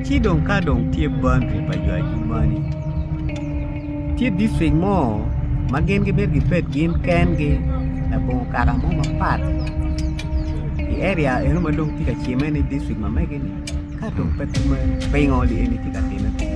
Ci dong ka dong tye boundary pa jo ajumani, tye district mo ma gin gimito gibed gin kengi labongo kaka mo mapat i area eno ma dong tye ka cime ni district ma mege-ni ka dong pe kumeno pingo eni tye ka timme kunu.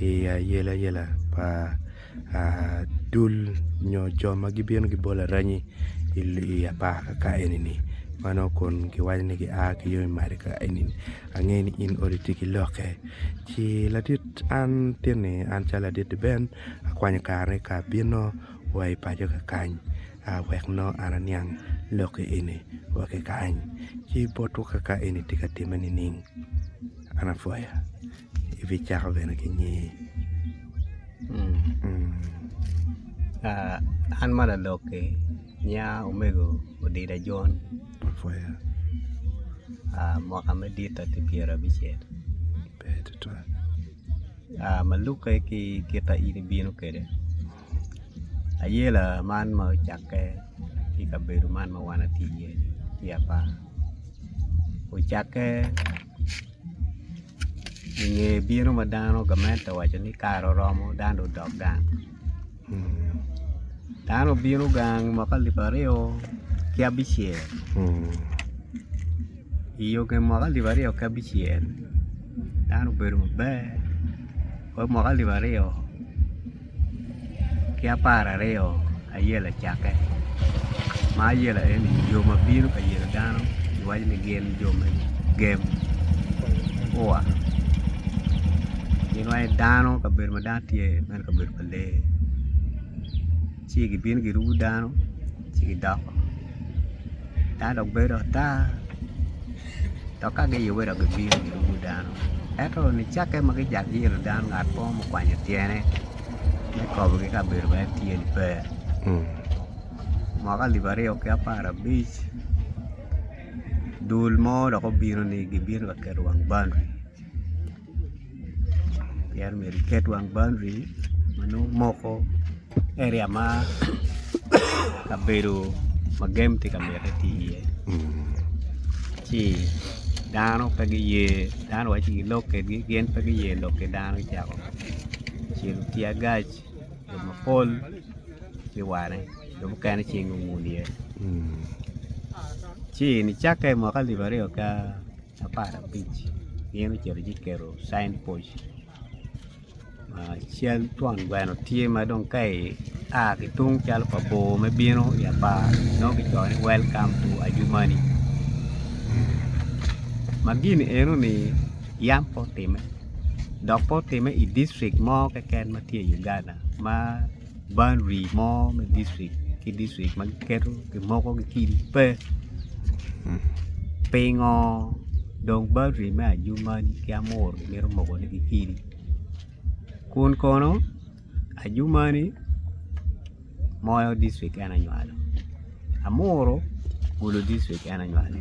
i ayelayela pa dul nyo jo ma gibino gibolo aranyi i apar kaka eni-ni ma nongo kun giwaco ni gia ki yo mac kaka eni-ni angeyo ni in odi tye ki lokke ci ladit an tin-ni an calo ladit Ben akwanyo kareni ka abino wa i paco kakany wek nongo an aniang lokke eni wa ki kany ci botwa kaka eni tye ka timme nining an apwoya. ibicako bene ki nyingi an ma lalok-ki nyinga omego Odida Jon Mapwoya mwaka madit atye pyera abicel ber tutwal ma lukke ki kit ma in ibino kwede ayela man ma ocakke ki i kabedo man ma wan watye iye-ni tye apar ocakke i nge bino ma dano gamente owaco ni kare oromo dano dong odok gang dano obino gang mwaka alip aryo ki abicel i nge mwaka alip aryo ki abicel dano obedo maber wek mwaka alip aryo ki apar aryo aye yelo cakke ma ayelo aye ni jo ma bino ka yelo dano kiwaco ni gin jo me gem kua gin waci dano kabedo ma dano tye iye meno kabedo pa lee ci gibino girumo dano ci gidoko dano dok bedo ata Dok ka giye welo gibino girumo dano. Ento nicakke ma gijak giyelo dano ngat mo ma okwanyo tyene me kobogi ka bedo ma en tye ni pe, mwaka alip aryo ki apar abic dul mo dok obino ni gibino ka keto wang boundary. pien omyero iket wang boundary ma nongo moko area ma kabedo ma gem tye ka miti tye iye ci dano pe giye dano waci gilok kedgi gin pe giye lok ki dano gicako cilo tear gas jo mapol ki wane jo mukene cing owun iye ci nicakke mwaka alip aryo ka apar abic gin ocito guketo cin poc ma cal twon gweno tye ma dong ka ia ki tung calo pa bor me bino i apar nongo kicoyo ni welcom to adjumani ma gini enoni yam pe otime dok pe otime i dictric mo keken ma tye i Uganda ma boundary mo me district ki district ma giketo gimoko gikiri pe pingo dong boundary me ajumani ki amuru gimito mokone gikiri kun kono ajumani moyo district en anywalo amuru gulu district en anywalo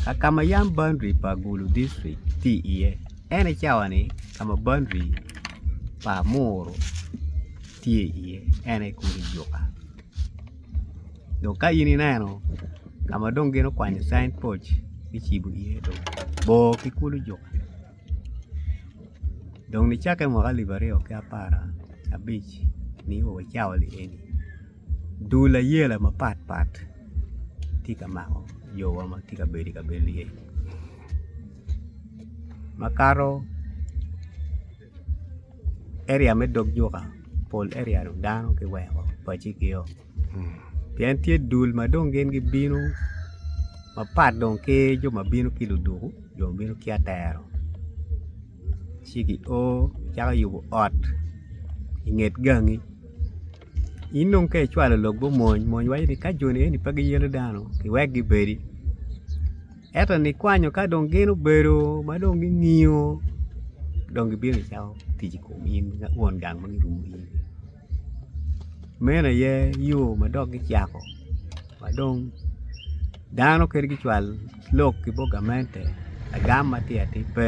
kakama yam boundary pa gulu district tye iye. En aye cawa-ni ka ma boundary pa Muru tye iye en aye kulu juka dong ka in ineno ka ma dong gin okwanyo cin poc kicibo iye dong bor ki kulu juka dong nicakke mwaka alip aryo ki apar ki abic nio wacawa-ni eni. Dul ayela mapat pat tye ka mako jo wa ma tye ka bedo i kabedo ni eni makato area me dog juka pol area dong dano ki weko paci ki o pien tye dul ma dong gin gi bino mapat dong ki jo ma bino ki luduku jo ma bino ki atero ci ki o caka yubu ot inget gangi In dong ka icwalo lok gumony mony waco ni ka joni eni pe giyelo dano kiwek gibedi ento nikwanyo ka dong gin obedo ma dong gingiyo dong gibino gicako tic i kom in won gang ma girumo i iye-ni meno aye yo ma dok gicako ma dong dano kadi gicwal lok ki bot gamente lagam ma tye atir pe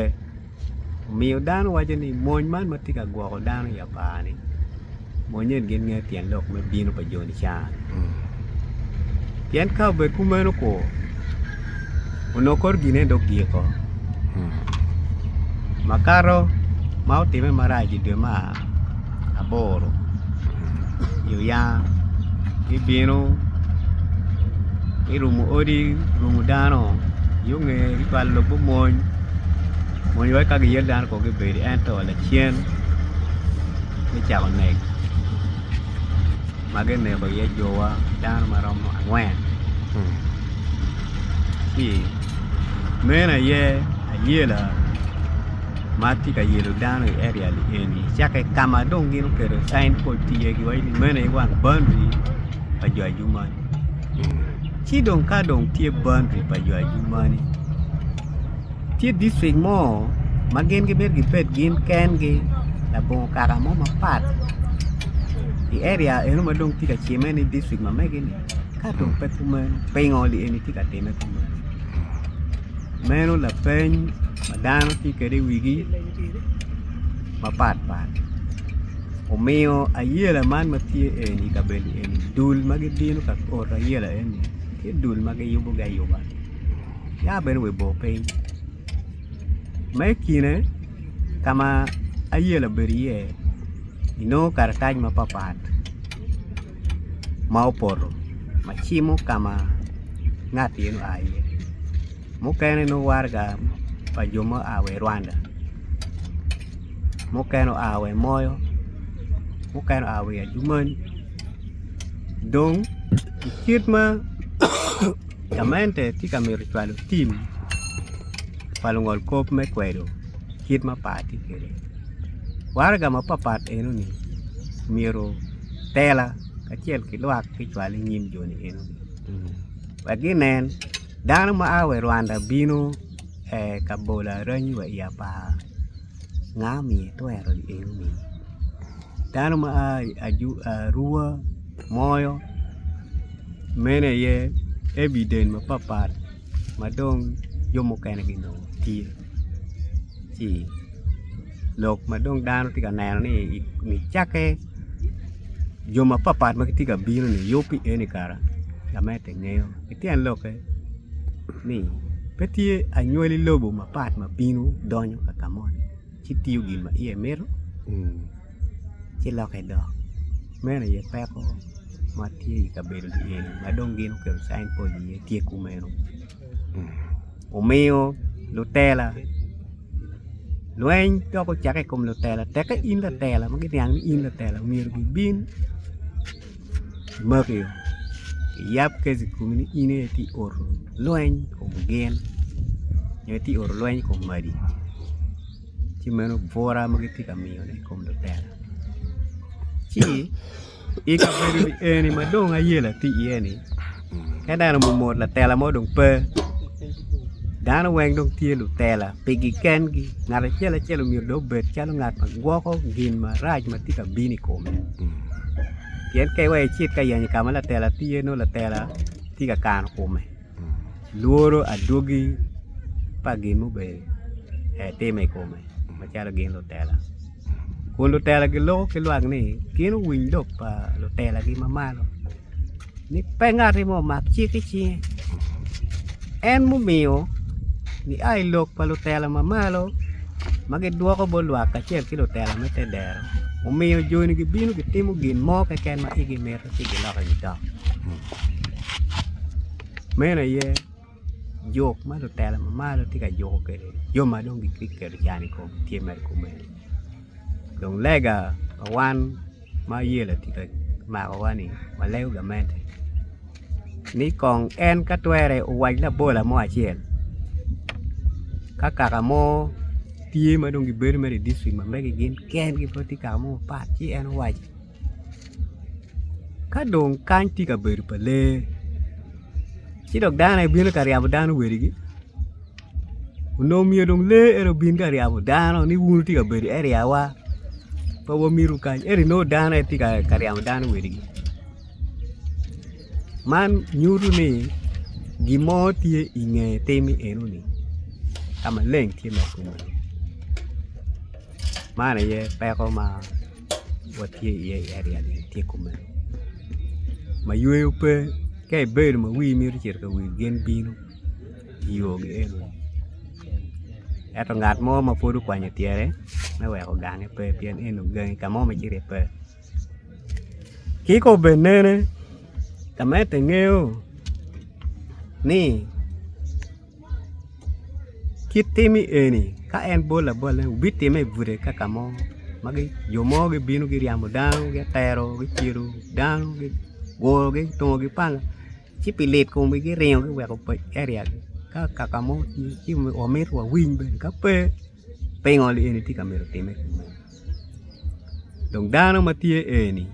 omiyo dano waco ni mony man ma tye ka gwoko dano i apar ni mony eni gin ngeyo tyen lok me bino pa joni ca ni pien ka obed kumeno ko onongo kore gin eni dong giko makato ma otime marac idwe mar aboro i oyange gibino girumo odi girumo dano yo nge gicwalo lok me mony mony weko ka giyel dano kong gibedi ento lacen me cako nek ma gineko iye jowa dano ma romo angwen meno aye ayela ma tye ka yelo dano i area ni eni cakke ka ma dong gin oketo cain bord ki iyegi waci ni meno aye wang boundary pa jo ajumani ci dong ka dong tye boundary pa jo ajumani tye district mo ma gin gimito gibed gin kengi labongo kaka mo mapat i area eno ma dong tye ka cimme ni district ma mege-ni ka dong pe kumeno pingo li eni tye ka timme kumeno? Meno lapeny ma dano tye kwede i wigi mapat pat omiyo ayela man ma tye eni i kabedo eni dul ma gibino ka oto ayela eni tye dul ma giyubogi ayuba ya bene wa i bor piny ma i kine ka ma ayela obedo iye inongo karatac mapat pat. ma opoto ma cimo ka ma ngat meno oa iye mukene nongo waraga pa jo ma gua wa i Rwanda mukene oa wa i Moyo mukene oa wa i Adjumani dong i kit ma gamente tye ka mito cwalo tim pa lungolkop me kwedo kit ma par tye kwede. Waraga mapat pat eno ni myero tela kacel ki lwak gucwal i nyim jo ni eno ni wek ginen dano ma a wa i Rwanda bino ka bolo aranyi wa i apar nga omiyo itwero i eno ni dano ma a i Arua, Moyo mene aye evident mapat pat. ma dong jo mukene ginongo tye ci lok ma dong dano tye ka neno ni i nge cakke jo mapatpat ma gitye ka bino ni yub pi eni kara gamente ingeyo ki tyen lokke ni pe tye anywali lobo mapat ma bino donyo ka ka moni ci tiyo gin ma iye mito ci loke dok meno aye peko ma tye i kabedo eni ma dong gin guketo cain bord iye tye kumeno omiyo lutela lweny dok ocake i kom lutela teke in latela ma giniang ni in latela myero gibin gimaki giyab keci i komi ni in aye itye ka oto lweny i kom gin nyo itye ka oto lweny i kom madi. ci meno bwura ma gitye ka miyone i kom lutino ci i kabedo eni ma dong ayela tye iye-ni ka neno mot latela mo dong pe dano weng dong tye lutela pigi kengi ngat acel acel myero dong obed calo ngat ma gwoko gin marac ma tye ka bino i kome pien ka iweyo icit ka yenyo ka ma latela tye nongo latela tye ka kano kome. Lworo adwogi pa gin mubedo etime i kome macalo gin lutela, kun lutela giloko ki lwak ni gin owiny lok pa lutelagi ma malo ni pe ngati mo omak cik i cinge. En mumiyo gia i lok pa lutela ma malo ma gidwoko bot lwak kacel ki lutela me te dero omiyo joni gibino gitimo gin mo keken ma igi mito ci giloko gidok. Meno aye jok ma lutela ma malo tye ka juko kwede jo ma dong gitye ka keto can i komgi tye mere kumeno dong lega pa wan ma yelo tye ka makowa-ni walego gamente ni kong en ka twere owac labola mo acel ka kaka mo tye ma dong gibedo mere i dictric ma megi gin kengi pe tye kaka mo mapat ci en owac. Ka dong kany tye ka bedo pa lee ci dong dano aye bino ka ryabo dano wadigi onongo myero dong lee eni obin ka ryabo dano ni wun wutye ka bedo area wa pe wamitu kany ento inongo dano aye tye ka ryemo dano wadigi man nyuto ni gin mo tye i nge tim enoni ka maleng tye ma otimme-ni man aye peko ma watye iye i area ni tye kumeno ma yweyo pe ka ibedo ma wii mito cito ka wil gin bino i yo gi eno ni ento ngat mo ma pud okwanyo tyene me weko gange pe pien eno ni gangi ka mo ma icito iye pe ki ka obed nene ka ma ento ingeyo ni kit tim eni ka en bol abole wubitime i bute kaka mo ma jo mo gibino giryemo dano gitero gicelo dano gigurogi gitungogi panga ci pi lit komgi giringo giweko paci area-ni ka kaka mo tye ci wamito wawiny bene ka pe Pingo en itye ka myero otimme? Dong dano ma tye eni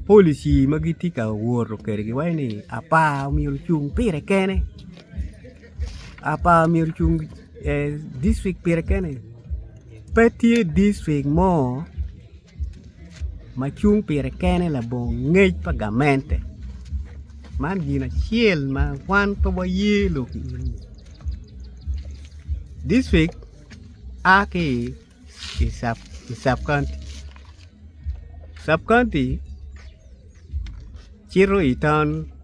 polici ma gitye ka woto kwede giwaco ni apa myero ocung pire kene apa myero ocung dictrict pire kene pe tye dictrict mo. ma cung pire kene labongo ngec pa gamente man gin acel ma wan pe waye lok i ye dicrik a ki i cabcounty, cabcounty cito i town.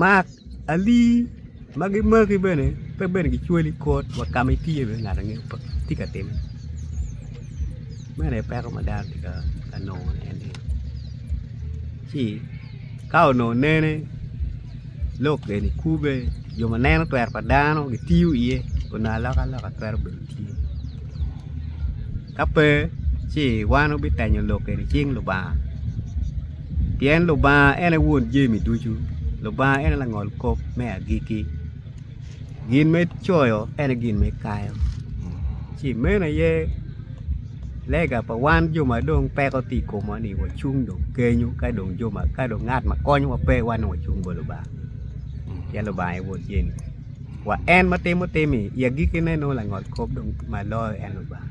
Mak alii ma gimaki bene pe bene kicwali i kot wa ka ma itiye bene ngat angeyo pe tye ka timme meno aye peko ma dano tye ka nongone en ni ci ka onongo nene lok eni kube jo ma neno twero pa dano gitiyo iye onongo aloka loka twero bene tye ka pe ci wan wubitenyo lok eni cing Lubanga. Pien Lubanga en aye Won jami ducu, Lubanga en aye Langol kop me agikki. Gin ma ecoyo en aye gin ma ekayo, ci meno aye lega pa wan jo ma dong peko tye i komwa ni wacung dong kenyo ka dong ngat ma konyowa pe wan dong wacung bot Lubanga pien Lubanga aye Won jami. Wa en ma timo tim-mi i agikkine nongo Langol kop dong ma loyo en Lubanga.